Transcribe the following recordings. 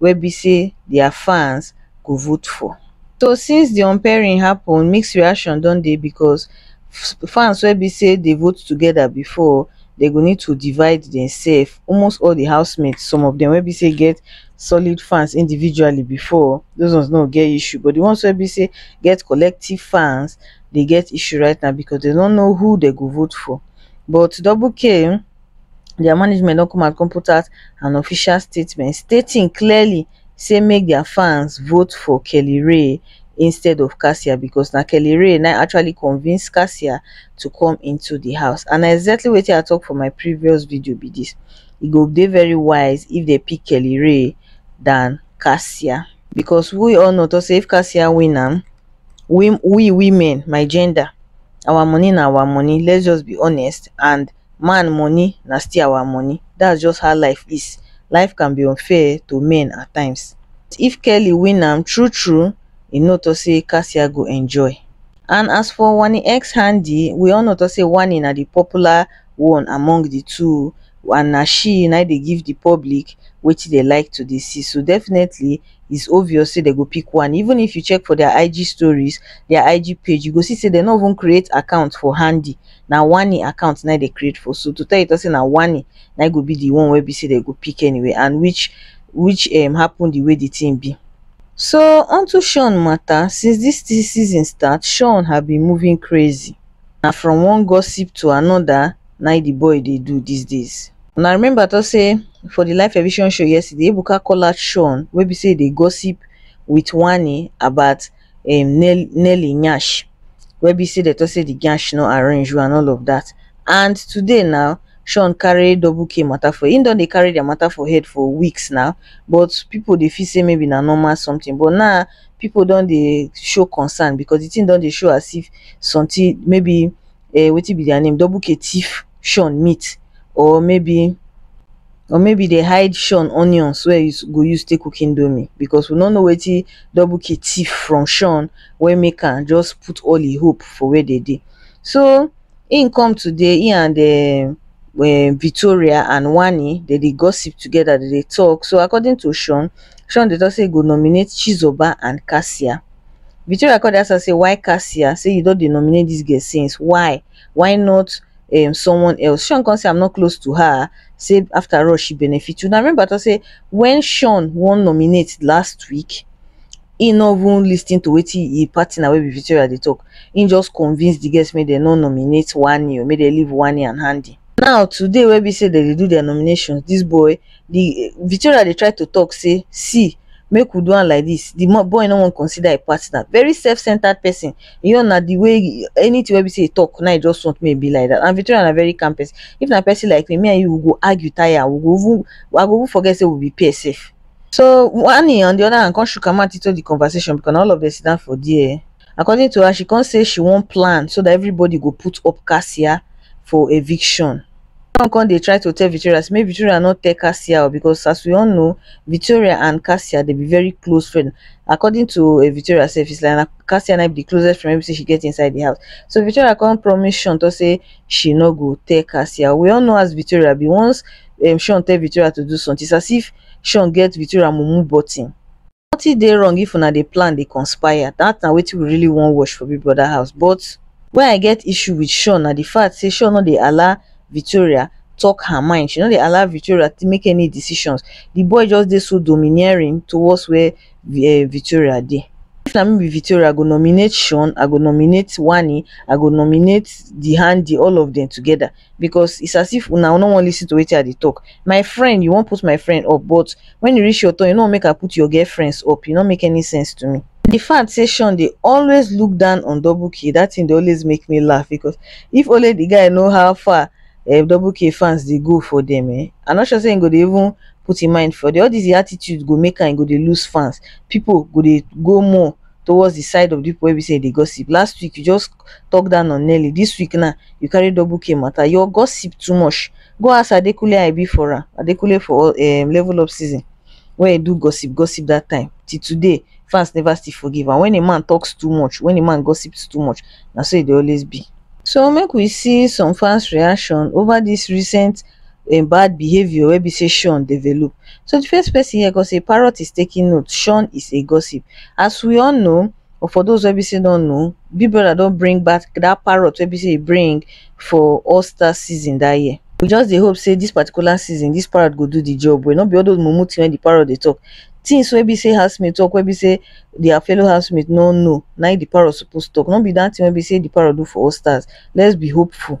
wey be say dia fans go vote for. So since di unpairing happun, mixed reaction don dey becos fans wey be say dey vote togeda bifor, dem go need to divide demsef. Almost all di housemates, some of dem wey be say get solid fans individually bifor, dos ones no go get issue. But di ones wey be say get collective fans, dey get issue right now, becos dem no know who dem go vote for. But double kay, dia management don come out come put out an official statement stating clearly say make dia fans vote for Kelly Rae instead of Cassia because na Kelly Rae na actually convince Cassia to come into di house and na exactly wetin I talk for my previous video be dis e go dey very wise if dem pick Kelly Rae than Cassia because we all know talk say if Cassia win am we we women my gender our money na our money let's just be honest and man money na still our money that's just how life is life can be unfair to men at times if Kelly win am true true e no talk say Cassia go enjoy and as for Wanni ex Handi we all know talk say Wanni na the popular one among the two and na she na dey give the public wetin dey like to dey see so definitely is obvious say dey go pick Wanni even if you check for their IG stories their IG page you go see say dey no even create account for Handi na one e account na e dey create for so to tell you talk say na one e na e go be the one wey be say dem go pick anyway and which which um happen the way the thing be. So unto Shawn matter since this thing season start Shawn have been moving crazy na from one gossip to another na e the boy dey do these days. Una remember talk say for the live television show yesterday Ebuka call out Shawn wey be say e dey gossip with one e about um nell nelly nyash wey be say dem talk say the nyash no arrange well and all of that and today na shawn carry double k matter for him don dey carry their matter for head for weeks now but people dey feel say maybe na normal something but now people don dey show concern because the thing don dey show as if something maybe um wetin be their name double k thief shawn meat or maybe or maybe dey hide shawn onions wey e go use take cook indomie because we no know wetin double k thief from shawn wey make am just put all e hope for where dem dey so him come today him and um um Victoria and Wanni dem dey gossip together dem dey talk so according to shawn shawn dey talk say e go nominate chizoba and kasia Victoria come dey ask am say why Cassia say you don dey nominate this girl since why why not um someone else Sean come say I'm not close to her say after all she benefit una remember I talk say when Sean wan nominate last week he no even lis ten to wetin him partner wey be Victoria dey talk he just convince the girls make dem no nominate Wanni o make dem leave Wanni and Handi now today wey be say dem dey do their nominations this boy the Victoria dey try to talk say see make we do am like this the mo- boy no wan consider a partner very self-centered person you know na the way anything wey be say he talk na he just want make e be like that and Victoria na very calm person if na person like me me and you we go argue tire we go even I go even forget say we be peer sef so Wanni on the other hand come shook her mouth into the conversation because na all of them sit down for there according to her she come say she wan plan so that everybody go put up kassia for eviction. John come dey try to tell Victoria say make Victoria no tell Cassia o because as we all know, Victoria and Cassia dey be very close friend. According to um Victoria sef, it's like na Cassia na im be the closest friend wey be say she get inside the house. So Victoria come promise Sean talk say she no go tell Cassia. We all know as Victoria be. Once um Sean tell Victoria to do something, it's as if Sean get Victoria mumu button. Nothing dey wrong if una dey plan dey conspire, that na wetin we really wan watch for Big Brother house but where I get issue with Shawn na the fact say Shawn no dey allow Victoria talk her mind, she no dey allow Victoria to make any decisions, the boy just dey so domineering towards where eh, Victoria dey. If na me be Victoria, I go nominate Shawn, I go nominate Wanni, I go nominate Dihandi, all of them together because it's as if una no wan listen to wetin I dey talk. My friend, you wan put my friend up but when e reach your turn, you no wan make I put your girlfriends up. E no make any sense to me. The fact say Sean dey always look down on Double K, that thing dey always make me laugh because if only the guy know how far um, Double K fans dey go for them, eh, I'm not sure say he go dey even put him mind for them. All this the attitude go make am he go dey lose fans. People go dey go more towards the side of the people wey be say e dey gossip. Last week you just talk down on Nelly, this week now you carry double K matter. Your gossip too much. Go ask Adekunle how e be for am. Adekunle for um level up season when he do gossip gossip that time till today fans never still forgive am. When a man talks too much, when a man gossips too much, na so e dey always be. So make we see some fans reaction over this recent um bad behaviour wey be sey Shawn develop. So di first person here come say parrot is taking note, Shawn is a gossip. As we all know or for those wey be sey don know, Big Brother don bring back dat parrot wey be sey e bring for All Star season dat year. We just dey hope sey dis particular season, dis parrot go do di job well, no be all those mumu thing wey di parrot dey talk. Things wey be sey house mate talk wey be sey their fellow house mate no know, na im di parrot suppose talk, no be dat thing wey be sey di parrot do for All Stars, let's be hopeful.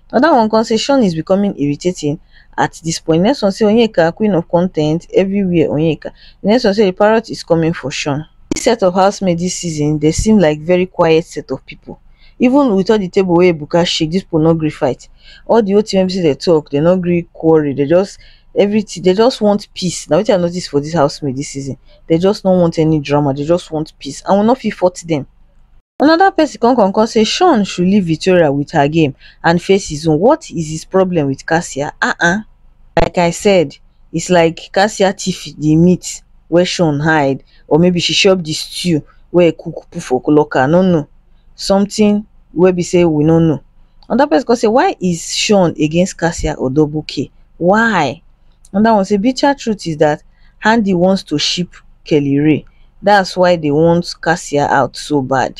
Another one come say Sean is becoming irritating at this point. Next one say Onyeka queen of content everywhere Onyeka. The next one say the parrot is coming for Sean. This set of housemates this season they seem like very quiet set of people. Even with all the table where Ebuka shake, this people no gree fight. All the whole thing wey they talk, they no gree quarrel. They just everything they just want peace. Now what I notice for this housemates this season, they just no want any drama. They just want peace and we no fit fault them. another person come come come say shaun should leave victoria with her game and face his own what is his problem with cassia um like i said it's like cassia thief the meat wey shaun hide or maybe she chop the stew wey he cook put for locker i no know something wey be say we no know another person come say why is shaun against cassia or double k why another one say bitter truth is dat handi want to ship kelly rae dats why dey want cassia out so bad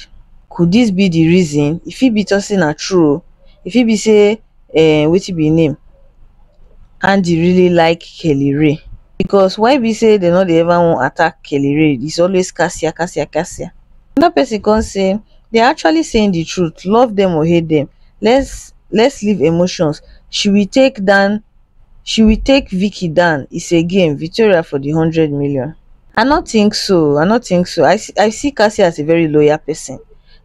could dis be di reason e fit be tok say na true oo e fit be say um wetin be im name handi really like kelly rae because why be say dey no dey ever wan attack kelly rae is always cassia cassia cassia another person come say dey are actually saying di truth love dem or hate dem let's let's leave emotions she will take down she will take vicky dan is a game victoria for di hundred million i no think so i no think so i see i see cassie as a very loyal person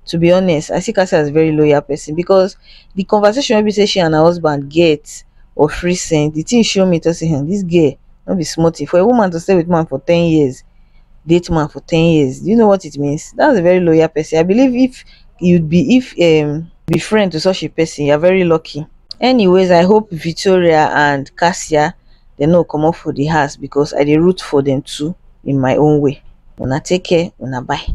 to be honest i see cassie as a very loyal person because the conversation wey be say she and her husband get of recent the thing show me to say hen this girl no be small thing for a woman to stay with man for ten years date man for ten years do you know what it means that's a very loyal person i believe if you'd be if um be friend to such a person you're very lucky anyways i hope victoria and kasia dey no go comot for the house because i dey root for dem too in my own way una take care una bye